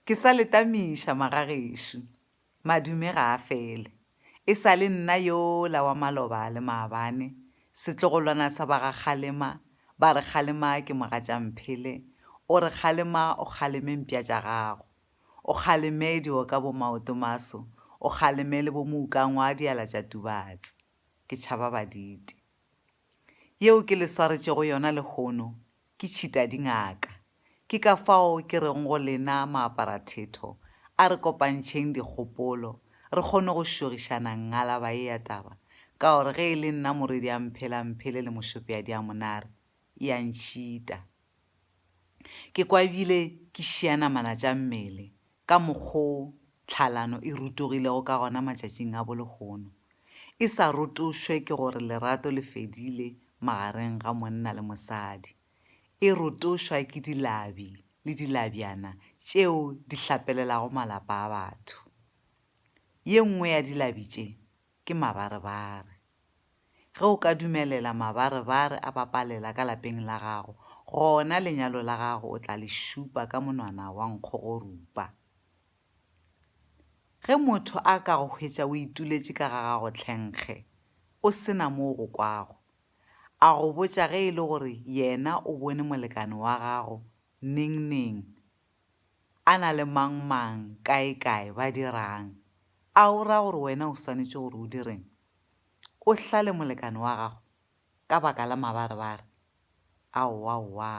Ke sa le tamiša magagešo. Madume ga a fele. E sa le nna yola wa maloba a le maabane, setlogolwana sa ba ga Kgalema, ba re Kgalema ke mogatša Mphele, o re Kgalema o kgaleme mpša tša gago. O kgaleme dio ka bo Maotomaso, o kgaleme le bo Moukangwa diala tša Tubatse. Ke tšhaba baditi. Yeo ke le swaretšego yona lehono ke tšhita dingaka. Ke ka fao ke rego go lena maapara-thetho, a re kopantšheng dikgopolo, re kgone go šogišana ngalaba ye ya taba, ka gore ge e le nna Morwedi a mphela mphele le Mošopeadi a monare, e a ntšhita. Ke kwabile ke šia namana tša mmele, ka mokgo tlhalano e rutogilego ka gona matšatšing a bo lehono, e sa rotošwe ke gore lerato le fedile magareng ga monna le mosadi, e rotošwa ke dilabi le dilabjana tšeo di hlapelelago malapa a batho. Ye nngwe ya dilabi tše ke mabarebare. Ge o ka dumelela mabarebare a bapalela ka lapeng la gago, gona lenyalo la gago o tla le šupa ka monwana wa nkgogorupa. Ge motho a ka go hwetša o ituletše ka ga gago tlhenkge, o se na mo o go kwago, a go botša ge e le gore yena o bone molekane wa gago nengneng a na le mang-mang, kae-kae, ba dira'ng? A o ra gore wena o swanetše gore o dire'ng? O hlale molekane wa gago ka baka la mabarebare? Aowa, owa.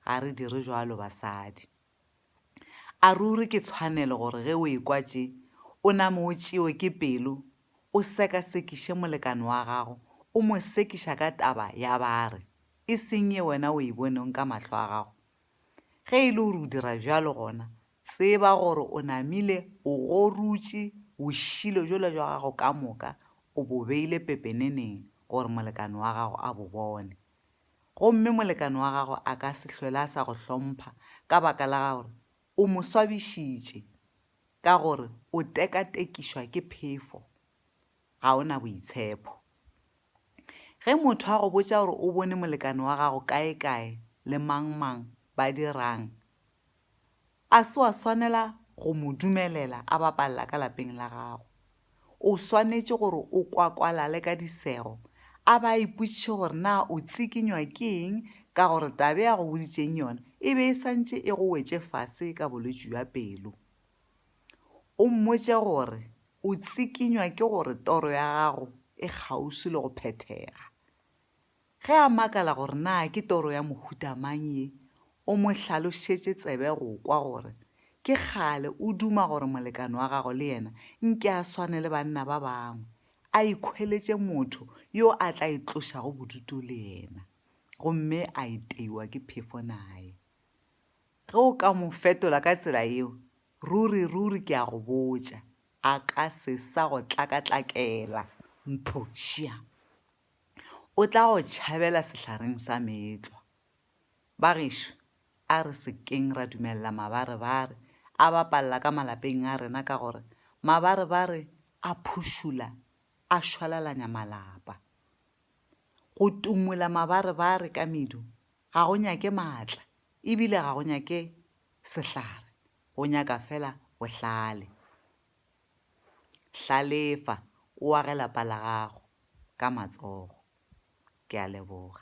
Ga re dire bjalo, basadi. A ruri ke tshwanelo gore ge o ekwa tše, o name o tšewe ke pelo, o sekasekiše molekane wa gago, o mo sekiša ka taba ya bare, e seng ye wena o e boneng ka mahlo a gago? Ge e le gore o dira bjalo gona tseba gore o namile o gorutše bošilo jola jwa gago ka moka o bo beile pepeneneng gore molekane wa gago a bo bone. Gomme molekane wa gago a ka se hlwele a sa go hlompha ka baka la gore o mo swabišitše ka gore o tekatekišwa ke phefo. ga o na boitshepho. Ge motho a go botša gore o bone molekane wa gago kaekae le mangmang ba dirang, a se wa swanela go mo dumelela a bapalela ka lapeng la gago. O swanetše gore o kwakwalale ka disego a ba a ipotšiše gore na o tsikinywa ke eng ka gore taba e a go boditšeng yona e be e sa ntše e go wetše fase ka bolwetši bja pelo. O mmotše gore o tsikinywa ke gore toro ya gago e kgauswi le go phethega. Ge a makala gore na ke toro ya mohuta mang ye, o mo hlalošetše tsebe go kwa gore ke kgale o duma gore molekane wa gagwe le yena nke a swane le banna ba bangwe, a ikhweletše motho yo a tla itlošago bodutu le yena gomme a iteiwa ke phefo naye. Ge o ka mo fetola ka tsela yeo, ruri, ruri ke a go botša, a ka se sa go tlakatlakela. Mphošia! O tla go tšhabela sehlareng sa meetlwa. Bagešo, a re se keng ra dumelela mabarebare a bapalela ka malapeng a rena ka gore mabarebare a phušula a šwalalanya malapa. Go tumola mabarebare ka medu Ga go nyake maatla e bile ga go nyake sehlare, go nyaka fela bohlale. Hlalefa, o age lapa la gago ka matsogo. Ke a leboga.